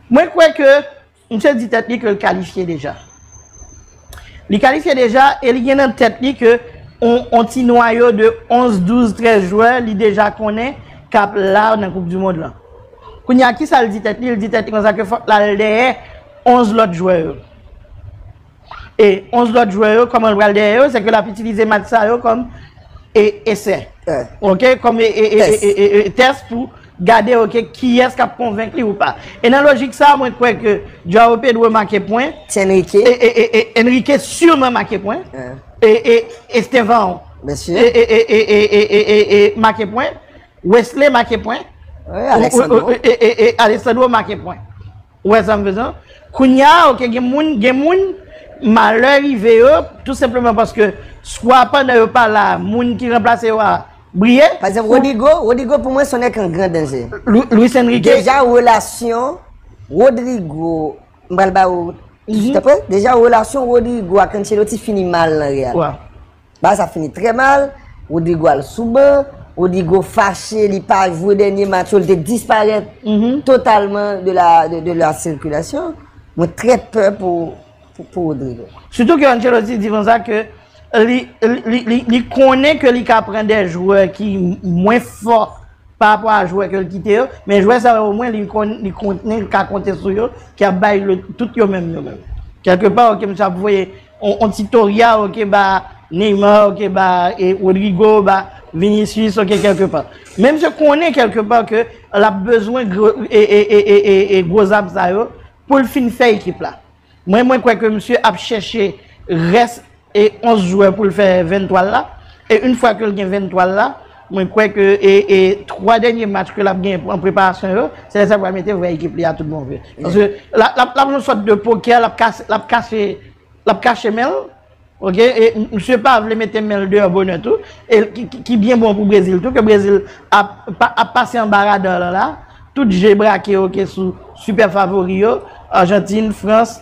Mwen kwè ke misye di tèt li ke li kalifye deja. Li kalifye deja e li gen nan tèt li ke yon ti nwayo de 11, 12, 13 jwè li deja konnen kap la nan koup di mond lan. Kounya kisa li di tèt li? Li di tèt li konsa ke fòk lal dèyè 11 lòt jwè yo. E 11 lòt jwè yo kòman l pral dèyè yo, sèke l ap itilize match sa yo kòm esè, ok, kòm tès pou gade ok kiyès k ap konvenk li ou pa. E nan lojik sa mwen kwè ke Joao Pedro make pwen, Enrique sûrement make pwen, e Estevão make pwen, Wesley make pwen, e Alexandro make pwen. Ou wè sa m fè sa? Kounye a ok gen moun gen moun malè rive yo tou senpleman paske swa pandan yo pa la moun ki ranplase yo a briye. Pa egzanp Rodrigo, Rodrigo pou mwen son nèg ki an gran danje. Luis Enrique. Deja relasyon Rodrigo, m pral ba ou, deja relasyon Rodrigo ak Ancelotti fini mal nan Real. Bagay sa fini trè mal, Rodrygo al sou ban, Rodrygo fache li pa jwe dènye match yo, li te disparèt totalman de la sirkulasyon, mwen trè pè pou Rodrygo. Sitou ke Ancelotti di konsa ke li konnen ke li ka pran de jwè ki mwen fò pa rapò a jwè ke li kite yo, men jwè sa yo omwen li konnen li ka konte sou yo, ki ap bay tout yo menm yo menm. Kèlke pa ok msye ap voye On ti Toria ok ba Neymar ok ba Rodrigo ba Vinicius ok kèlke pa. Men misye konnen kèlke pa ke lap bezwen gwo zam sa yo poul fin fè ekip la. Mwen mwen kwè ke misye ap chèche rès 11 jwè poul fè 23 l la e yn fwa ke l gen 23 l la Mwen kwè ke 3 dènye match ke lap gen an preparasyon yo, se lè sa li pral mete vrè ekip li a tout bon vre. Paske lap jwe yon sòt de pokè, lap kache, lap kache men l. Ok, e misye pa vle mete men l deyò bonè tou. E ki byen bon pou Brezil tou, ke Brezil ap pase anba radar lan la. Tout je brake ok sou sipè favori yo, Argentine, France,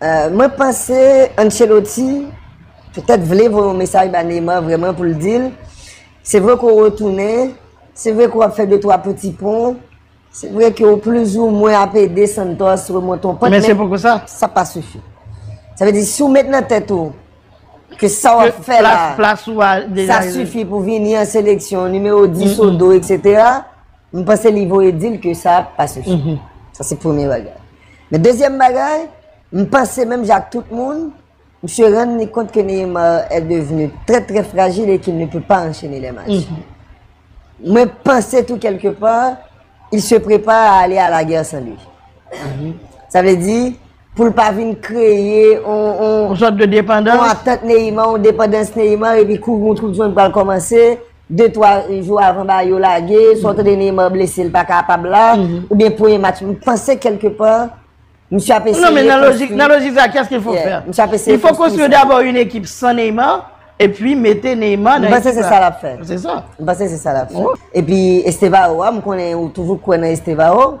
Mwen panse Ancelotti petèt vle voye yon mesaj ba Neymar vrèman pou l di l, se vre ke w retounen, se vre ke w ap fè de twa peti pon, se vre ke w plizoumwen ap ede Santos remonte yon pant, men sa pa sifi. Sa vle di si w met nan tèt ou ke sa w ap fè la, sa sifi pou vini an seleksyon, nimewo 10 ou 2, etc. M panse li voye di l ke sa pa sifi. Sa se premye bagay. Men dezyèm bagay, m panse menm jan ak tout moun, misye rann li kont ke Neymar è devni trè trè frajil e ki l ne pe pa anchene lè match. Mwen panse tou kèlke pa, il se prepare a ale a la gè san li. Sa vle di, pou l pa vin kreye yon sòt de depandans, yon atant Neyima, yon depandans Neyima, epi kou yon twou jwenn pral kòmanse, de twa jou avan ba yo lage, sou ante de Neyima blese l pa kapab la, ou byen pou yon match, m panse kelke pa, m si ap eseye konstwi. Non men nan lojik sa, kè s ke fò fè? M si ap eseye konstwi. Yon fò konstwi yo dabò yon ekip san Neyima, epi mete Neyima nan ekip la. M panse se sa l ap fè. Se sa. M panse se sa l ap fè. Epi Estevao a, m konnen ou toujou kwen nan Estevao.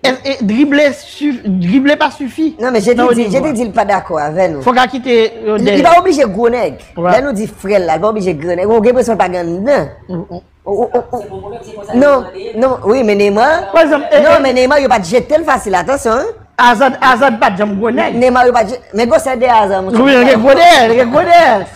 E drible drible pa sifi. Nan men je te di je te di l pa dakò avè nou. Fok a kite yon dèyè. Li pa oblije gwo nèg. Lè nou di frè l la li pa oblije gran nèg. Ou gen enpresyon l pa gen nan. Non non wi men Neymar non men Neymar yo pa t jete l fasil atansyon. Azad Azad pa janm gwo nèg. Neymar yo pa t jete l men gwo sè dèyè Azad. Wi l gen gwo dèyè l gen gwo dèyè.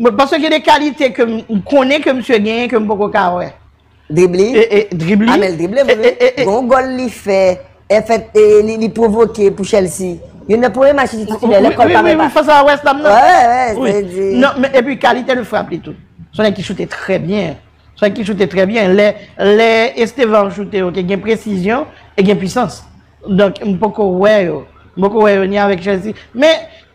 Mwen panse gen de kalite ke m konnen ke misye genyen ke m poko ka wè. Dribli? E e dribli. Amel drible vre wi. E e e. Gen yon gòl li fè, en fèt e li li pwovoke pou Chelsea. Youn nan premye match li te titulè lè kò l pa fè pa. Wi wi wi fas a West Ham nan. Wè wè wè se di. Non men epi kalite de frap li tou. Son nèg ki choute trè byen. Son nèg ki choute trè byen. Lè lè Estevan ap choute yo te gen presizyon e gen pwisans. Donk m poko wè yo. M poko wè yo ni avèk Chelsea. Men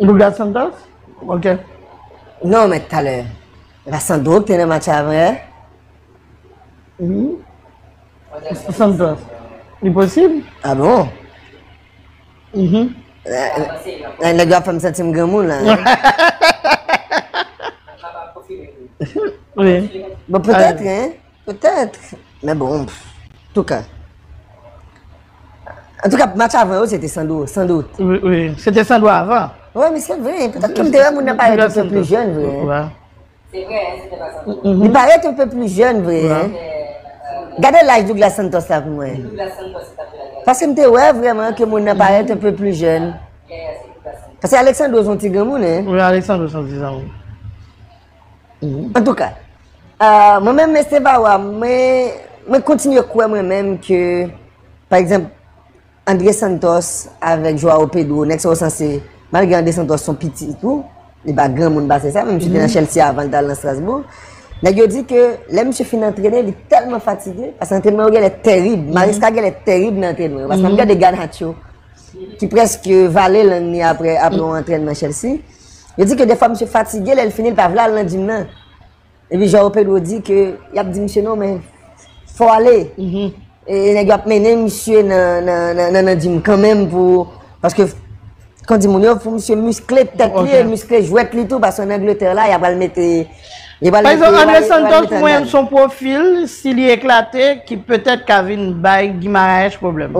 Douglas Santos? Ok. Non men talè, e pa Sandro ki te nan match la vre? Wi. Santos. Li posib? A bon? Mh. Nan nèg yo ap fè m santi m granmoun la. Wi. Bon petèt wi. Petèt, men bon, antouka. Antouka match avan yo se te Sandro, san dout. Wi, wi, se te Sandro avan. Wi, men se vre, petèt ke m te wè moun nan parèt anpe pli jèn vre. Wi. Se vre, se te pa Sandro. Li parèt anpe pli jèn vre. Wi. Gade laj Douglas Santos la pou mwen. Se Douglas Santos ki tap jwe lakay. Paske m te wè vrèman ke moun nan parèt anpe pli jèn. Yaya, se Douglas Santos. Paske Alexandro son ti granmoun, hein. Wi, Alexandro son ti granmoun. Antouka, mwen menm Mesye Bawa, mwen kontinye kwè mwen menm ke, pa egzanp, Andre Santos avèk Joao Pedro, nèg sa yo sanse, malgre Andre Santos son piti tou, li pa granmoun pase sa, men misye te nan Chelsea avan li te al nan Strasbourg, nèg yo di ke lè misye fin antrene, li tèlman fatige, paske antrenman yo genlè terib, Maresca genlè terib nan antrenman yo, paske mwen gade Garnacho, ki prèske vale lang ni apre yon antrenman Chelsea. Yo di ke defwa misye fatige lè l fini l pa vle al nan gym nan. Epi João Pedro di ke y ap di misye non men fò ale. E nèg yo ap mennen misye nan gym kanmenm pou paske kon di moun yo pou misye miskle tèt li e miskle jwèt li tou paske an Angleterre la y ap al mete Par exemple André Santos m wè l son pwofil si li eklate ki petèt ka vin bay Guimaraes pwoblèm.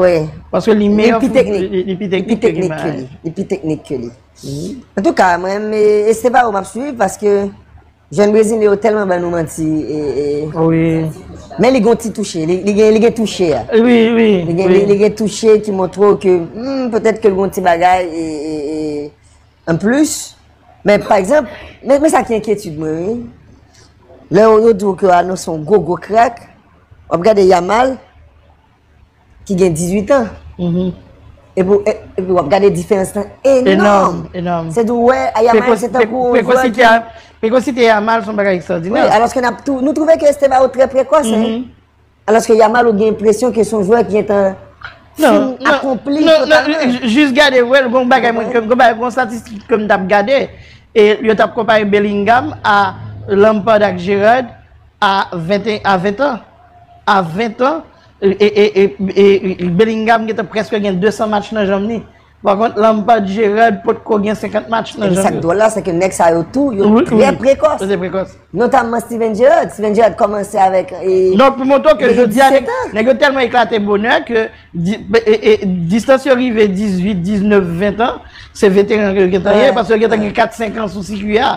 Paske li meyò li pi teknik ke Guimaraes. Li pi teknik ke li. En tout ka, mwen m este pa ou map swiv paske jèn brezilyen yo tèlman ban nou manti e Wi. Men li gon ti touche, li gen li gen touche a. Wi, wi. Li gen li gen touche ki montre w ke humm petèt ke l gon ti bagay e e en plus men pa egzanp men sa ki enkyetid mwen wi lè yo di w ke yo anonse yon gwo gwo krak wap gade Yamal ki gen 18 an, epi wap gade diferans lan enòm. Enòm. Se tou wè, a Yamal se tankou. Prekosite Yamal son bagay ekstradinè. Wè, alòske nap tou, nou twouve ke Esteva ou trè prekòs, hè. Alòske Yamal ou gen presyon ke son jwè ki gen tan fin akonpli totalman. Non, non, jis gade wè, gon bagay mwen, gon bagay, gon statistik ke m tap gade, e yo tap konpare Bellingham a Lampard ak Gerrard a 20 an. A 20 an, Bellingham gentan prèske gen 200 match nan janm li. Pa kont, Lampard, Gerrard potko gen 50 match nan janm yo. Epi sa k dwòl la, se ke nèg sa yo tou, yo trè prekòs. Yo trè prekòs. Notamman Steven Gerrard. Steven Gerrard kòmanse avèk 17 an. Donk pou montre w ke jodi a, nèg yo tèlman eklate bonè ke distans yo rive 18, 19, 20 an, se veteran yo gentan ye, paske yo gentan gen 4, 5 an sou sikwi a.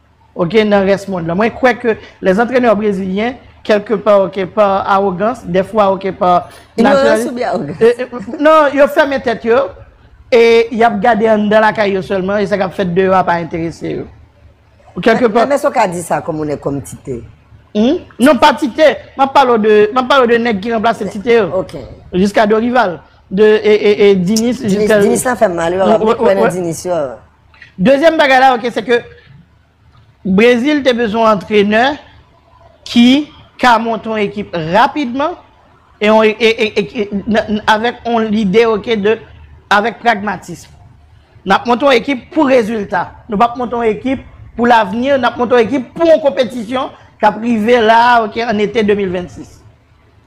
ok nan rès mond lan mwen kwè ke lè zantrenè brezilyen kèlke pa ok pa awogans dèfwa ok pa inyorans oubyen awogans nan yo fèmen tèt yo e yap gade anndan lakay yo sèlman e sa kap fèt deyò a pa enterese yo kèlke pa nan èske ou ka di sa kòm ou nèg kòm tite nan pa tite map pale ou de map pale ou de nèg ki ranplase tite yo ok jiska dorival de e e e dinis jiska dinis dinis la fèm mal yo mwen kwè nan dinis yo Dezyèm bagay la ok se ke Brezil te bezwen yon antrenè ki ka monte yon ekip rapidman e avèk yon lide ok de avèk pragmatism. N ap monte yon ekip pou rezilta. Nou pa p monte yon ekip pou lavni, n ap monte yon ekip pou yon konpetisyon k ap rive la ok an ete 2026.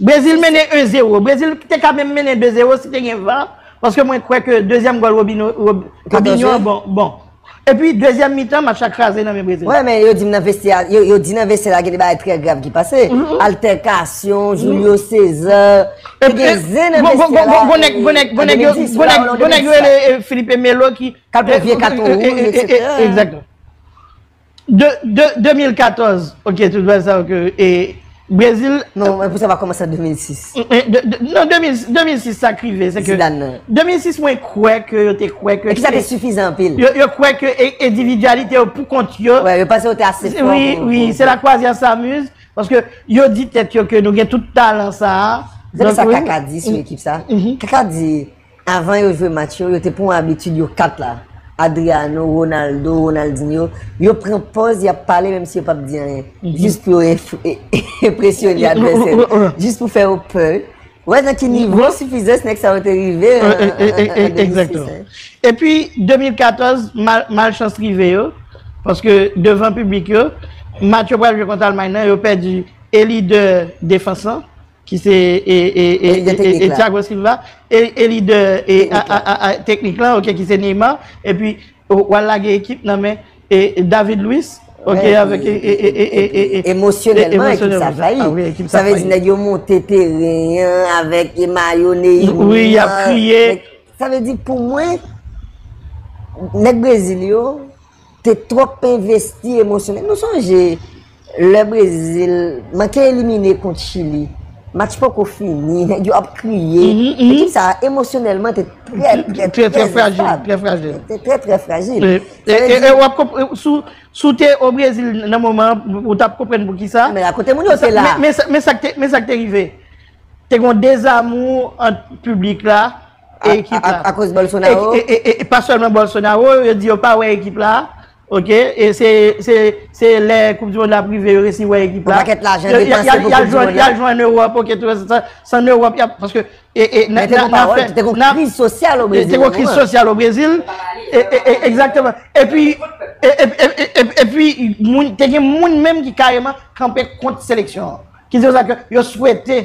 Brezil mennen 1 zero. Brezil te ka menm mennen 2 zero si te gen var. Paske mwen kwè ke dezyèm gòl Robinho an bon. E pi dezyèm mitan match la kraze nan men Brezil. Wè men yo di nan vestye a, yo di nan vestye a gen de bagay trè grav ki pase. Altèkasyon, Julio Cesar. Te gen zen nan vestye a la. Gwo nèg yo, gwo nèg yo rele Filipe Melo ki. Kal pran vye katon wouj, etc. De 2014 ok tout bagay sa yo ke e Brezil. Non mwen pou sa pa komanse an 2006. Non 2006 sa k rive se ke. Zidane nan. 2006 mwen kwè ke yo te kwè ke. Ekip sa te sifizan anpil. Yo kwè ke endividyalite yo pou kont yo. Wè yo panse yo te ase fò. Wi wi se la kwazya samuz. Paske yo di tèt yo ke nou gen tout talan sa a. Zè sa kaka di sou ekip sa. Kaka di Avan yo jwe match yo, yo te pran abitid yo kat la, Adriano, Ronaldo, Ronaldinho, yo pran pòz y ap pale menm si yo pap di anyen, jis pou yo enpresyone advèsè yo, jis pou fè yo pè. Ou wè nan ki nivo sifizans nèg sa yo te rive an 2006 an. Epi 2014, malchans rive yo, paske devan piblik yo, match yo pral jwe kont Almay nan, yo pèdi e lidè defans lan, ki se e Thiago Silva e lidè teknik la ok ki se Neymar epi wal lage ekip nan men David Luiz ok avèk emosyonèlman ekip sa fayi sa vezi nèg yo monte teren avèk e mayo Neymar sa vezi pou mwen nèg Brezil yo Te twòp envesti emosyonèl. Nou sonje lè Brezil manke elimine kont Chili. Match poko fini, nèg yo ap kriye. Ekip sa a emosyonèlman te trè, trè, trè frajil. Te trè, trè frajil. E wap konpre, sou te o Brezil nan moman, ou tap konpren pou ki sa. Men akote moun yo te la. Men sa k te rive. Te gon dezamou ant publik la. E ekip la. A koz Bolsonaro. E pa selman Bolsonaro, yo di yo pa wè ekip la. Ok, e se lè koup di mond la prive yo resi wè ekip la. Yon paket lajan depanse pou koup di mond la. Yal jwen an Europe, ok, tout se sa. San Europe, yal, paske. Mwen te kon pawol, te kon kriz sosyal o Brezil. Te kon kriz sosyal o Brezil. Exactement. E pi, e pi, te gen moun menm ki kareman kanpe kont seleksyon. Ki di yo sa ke yo swete.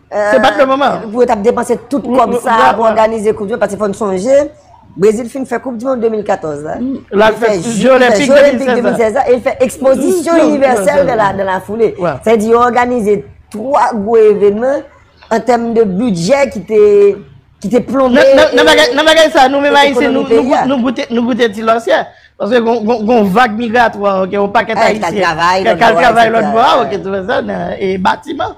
Se bat le moman. Pou yo tap depanse tout kob sa pou organize koup di mond. Pati fòn sonje, Brezil fin fè koup di mond 2014 la. La fè jyo lèpik 2016 la. E fè ekspozisyon universel de la foule. Fè di yo organize 3 gwo evenman an tèm de budget ki te plonbe. Nan bagay sa nou men ma yisi nou goute ti lòsyè. Paske gon vag migratwa. Yon paket a yisi. Kal travay lòt vwa. E batiman.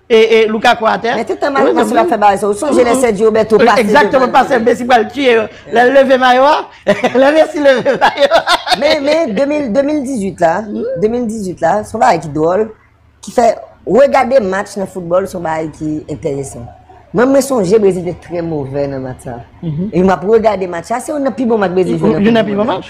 E e louka kwa atè. Mete tan mayo mason la fè bagay sa. Ou sonje lè sè diyo beto pase. Ekzakteman pase mesi pral tiye yo. Lè leve mayo a. Lè mesi leve mayo a. Men men 2018 la 2018 la son bagay ki dwòl. Ki fè regade match nan foutbòl son bagay ki enteresan. Mwen mwen sonje brezil te trè movè nan match sa. E map regade match sa. Se yon nan pi bon match brezil jwe nan foutbòl. Yon nan pi bon match.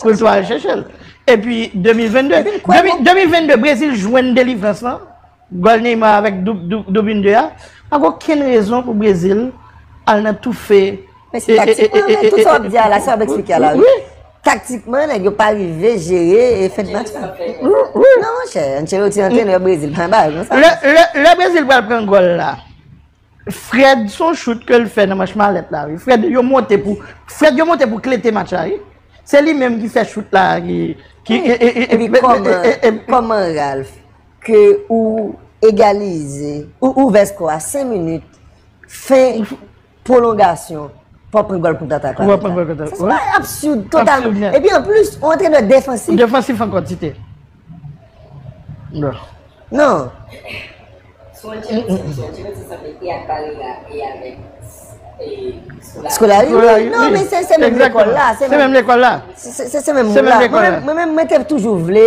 Pou l tou al chèche l. Epi 2022, 2022 Brezil jwenn delivrans lan, gòl Neymar avèk doub yn 2 a, pa gen okenn rezon pou Brezil al nan toufe. Men se taktikman men, tout sa w ap di a la, sa w ap eksplike a la wi. Taktikman nèg yo pa rive jere fen de match lan. Non monchè, Ancelotti antrenè Brezil pa yon bagay konsa. Lè Brezil pral pran gòl la, Fred son chout ke l fè nan manch malèt la wi. Fred yo monte pou Fred yo monte pou klete match la wi. Se li menm ki fè chout la ki E pi kòman kòman Ralph ke ou egalize ou ouvè skò a 5 minit fen pwolongasyon pou w pran gòl kontratak la. Pou w pran gòl kontratak la. Sa se absid totalman. E pi anplis ou antrenè defansif. Defansif ankò Tite. Non. Skolari? Non, men se menm lekòl la. Se menm lekòl la. Se menm moun la. Mwen menm mwen te toujou vle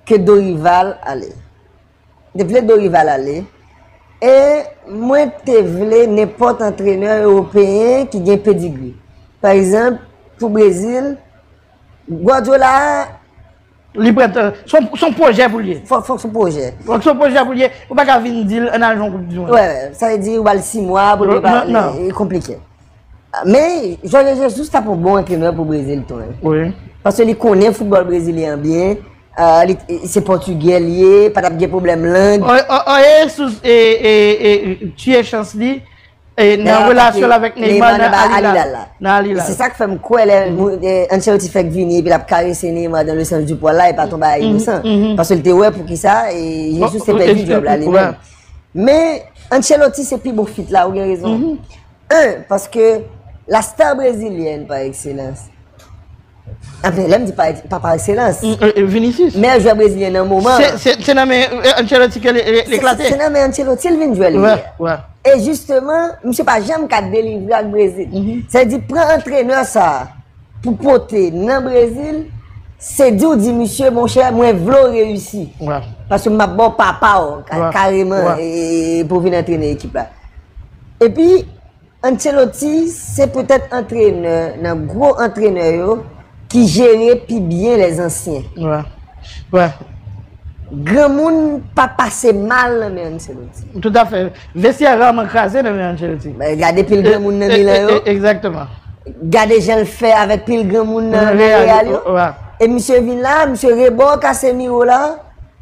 ke Dorival ale. Mwen te vle Dorival ale. E mwen te vle nenpòt antrenè Europeyen ki gen pedigri. Par exemple, pou Brezil, Guardiola a. Li prèt. Son pwojè pou l ye. Fòk son pwojè. Fòk son pwojè pou l ye. Ou pa ka vin di l ann al jwe yon koup di mond. Wè, sa vle di ou ba l 6 mwa pou l prepare. Non, non. E konplike. Men, Jorge Jesus ta pou bon antrenè pou Brezil tou. Wi. Paske li konnen foutbòl brezilyen an byen. Se pòtigè l ye, pa t ap gen pwoblèm lang. Jorge Jesus e tiye chans li. E nan relasyon l avèk Neymar nan Al-Hilal la. Nan Al-Hilal. Se sa k fè m kwè lè Ancelotti fèk vini epi l ap karese Neymar dans le sens du poil la e pa ton bagay inosan. Paske l te wè pou ki sa e Jesus te pèdi djòb la li menm. Men Ancelotti se pi bon fit la ou gen rezon. 1, paske la star brezilyen pa ekselans. Anfen, lè m di pa ekse, pa pa ekselans. Vinicius. Meyè jwè brezilyen nan moman an. Se, se nan men Ancelotti ke l eklate. Se nan men Ancelotti l vin jwè l ye. Wè. E jisteman, misye pa janm ka delivre ak Brezil. Sa vle di, pran antrenè sa a pou pote nan Brezil, se di w di misye, monchè, mwen vle w reyisi. Wè. Paske m ap ba w papa w, kareman, pou w vin antrene ekip la. Epi. Ancelotti se poutèt antrenè nan gwo antrenè yo ki jere pi byen lè zansyen. Granmoun pa pase mal nan men Ancelotti. Toutafè. Vestyè raman kraze nan men Ancelotti. Gade pil granmoun nan Milan yo. Egzakteman. Gade jan l fè avèk pil granmoun nan Real yo. E misye vin la, misye rebò Casemiro la.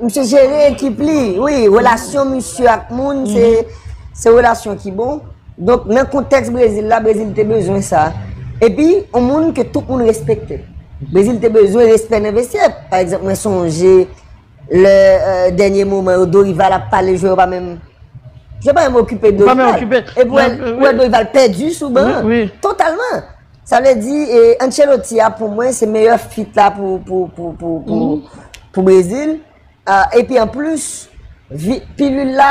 Misye jere ekip li, wi, relasyon misye ak moun se relasyon ki bon. Donk nan kontèks Brezil la, Brezil te bezwen sa. Epi, yon moun ke tout moun respekte. Brezil te bezwen respè nan vestyè. Pa egzanp, mwen sonje lè dènye moman yo, Dorival ap pale jwè yo pa menm. Jwè pa menm okipe Dorival. Epi, wè Dorival pèdi sou ban, totalman. Sa vle di Ancelotti a pou mwen se meyè fit la pou Brezil. E pi an plis, pilil la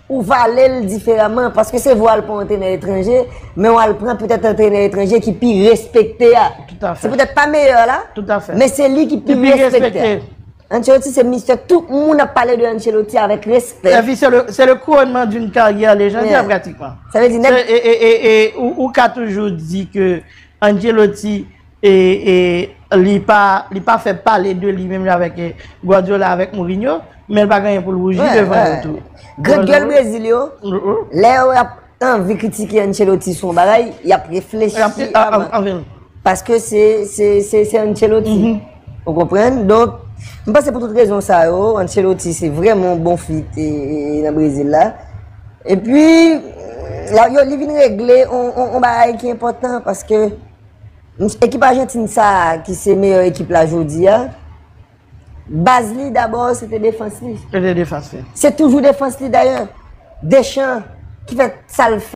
ou vale l diferaman. Paske se vwa l pou antrenè etranje, men w al pran petèt antrenè etranje ki pi respekte a. Se petèt pa meyè la, men se li ki pi respekte. Ancelotti se mistè tout moun ap pale de Ancelotti avèk respè. Epi se le kouronnman d'une karyè lejandè pratikman. Sa vle di nèg. E ou ka toujou di ke Ancelotti li pa fè pale de li menm jan avèk Guardiola avèk Mourinho, men l pa genyen pou l rouji devan yo tou. Grann gèl Brezil yo, lè yo ap Anvi kritike Ancelotti son bagay, y ap reflechi avan. Paske se Ancelotti. Ou konpren? Donk, m panse pou tout rezon sa yo, Ancelotti se vreman bon fit nan Brezil la. E pi, yo li vin regle yon bagay ki enpotan, paske ekip Argentine sa ki se meyè ekip la jodi a, Baz li dabò se te defans li. Se te defans li. Se toujou defans li dayè. Deschamps ki fè sa l fè.